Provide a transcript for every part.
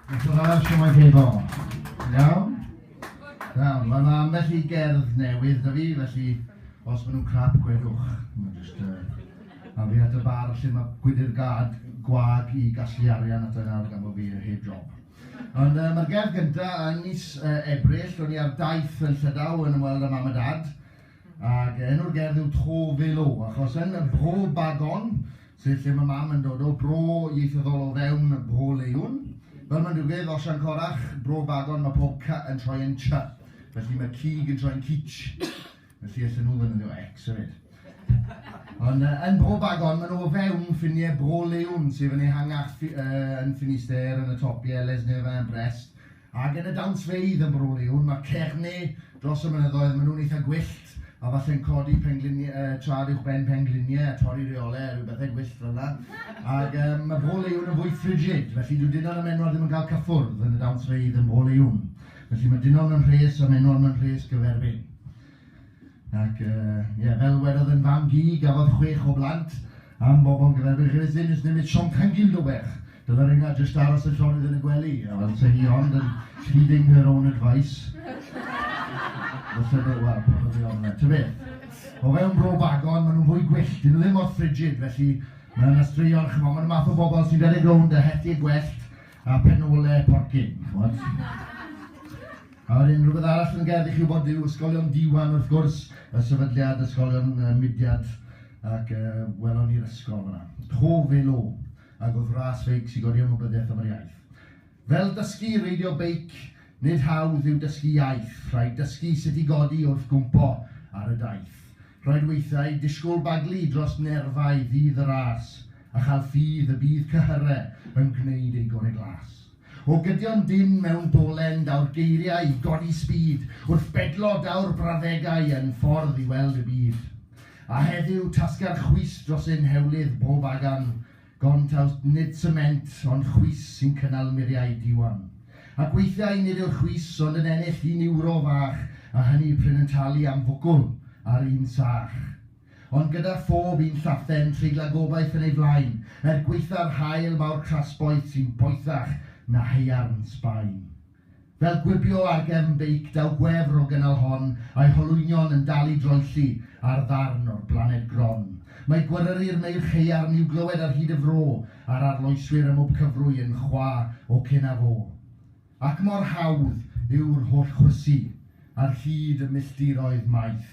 Diolch yn fawr, siomai chi bo. Iawn? Iawn, mae yna ambell i gerdd newydd da fi, felly os maen nhw'n crap, gwedwch. Mae'n just uh, afiad y bar lle mae gwydr gad gwag i gasglu arian at yna gan bod fi heb job. Ond uh, mae'r gerdd gyntaf yn mis uh, Ebrill, o'n i ar daith yn Llydaw yn ymweld â mam a dad, Ac enw'r gerdd yw Tro Felo, achos yn Bro Bagon, sef lle mae mam yn dod o, bro ieithyddol o fewn Bro Leiwn, fel mae'n digwydd, Osian Corach, Bro Bagon, mae pob cy yn troi yn ch, felly mae cig yn troi'n cich, felly allan nhw ddefnyddio X hefyd. Ond uh, yn Bro Bagon, maen nhw o fewn ffiniau Bro Leiwn, sef yn ehangach uh, yn Ffinister, yn y topiau, Les Nevins, Brest, Ac yn y dawnsfeydd yn Brwliwn, mae Cerne dros y mynyddoedd, maen nhw'n eitha gwyllt, a falle'n codi pengliniau, yy, traed uwch ben pengliniau a torri rheolau a rhyw bethau gwyllt fel 'na. Ac yym, mae Brwliwn yn fwy frigid, felly dyw dynon a men'wod ddim yn cael cyffwrdd yn y dawnsfeydd yn Brwliwn. Felly, mae dynon yn rhes a men'wod mewn rhes gyferbyn. Ac, yy, ie, fel wedodd yn fam-gu, gafodd chwech o blant am bobl gyda'r Beirgyfys ddim jyst newid siom cangil do bech. Dyla reina jyst aros y llonydd yn y gwely, a fel se hi ond yn heeding her own advice. Fyse fe, wel, pa mor ddiog na. Ta beth. O fewn bro bagon, maen nhw'n fwy gwyllt, dyn nhw ddim mor frigid, felly mae yna straeon, chimod, maen nhw'r math o bobl sy'n rhedeg rownd a hethu gwellt, A phen ole porcyn, ch'mod? A wedyn rhywbeth arall yn gerdd i chi wybod yw ysgolion diwan wrth gwrs, y sefydliad ysgolion uh, mudiad ac uh, welon ni'r ysgol fyna. Hof elo, ac oedd ras feic sy'n godi ymwybyddiaeth am yr iaith. Fel dysgu reidio beic, nid hawdd yw dysgu iaith, rhaid dysgu sut i godi wrth gwmpo ar y daith. Rhaid weithiau disgwyl baglu dros nerfau ddydd y ras, a chael ffydd y bydd cyhyre yn gwneud ei gore glas. O gydion dynn mewn dolen daw'r geiriau i godi sbîd, wrth bedlo daw'r brawddegau yn ffordd i weld y byd. A heddiw tasga'r chwys dros ein hewlydd bob agan, Gontaust, nid sement, ond chwys sy'n cynnal muriau diwan. Ac weithiau nid yw'r chwys ond yn ennill un ewro fach, a hynny prin yn talu am fwgwl ar un sach. Ond gyda phob un llathen treiglan gobaith yn ei flaen, er gwaetha'r haul mawr crasboeth sy'n boethach na haearn Sbaen. Fel gwibio ar gefn beic daw gwefr o gynnal hon a'i holwynion yn dal i droelli ar ddarn o'r blaned gron. Mae gweryru'r meirch haearn i'w glywed ar hyd y fro, a'r arloeswyr ym mhob cyfrwy yn chwa o cyn a fo. Ac mor hawdd yw'r holl chwysu ar hyd y milltiroedd maith,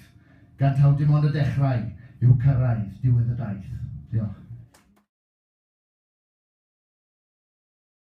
gan taw dim ond y dechrau yw cyrraedd diwedd y daith. Diolch.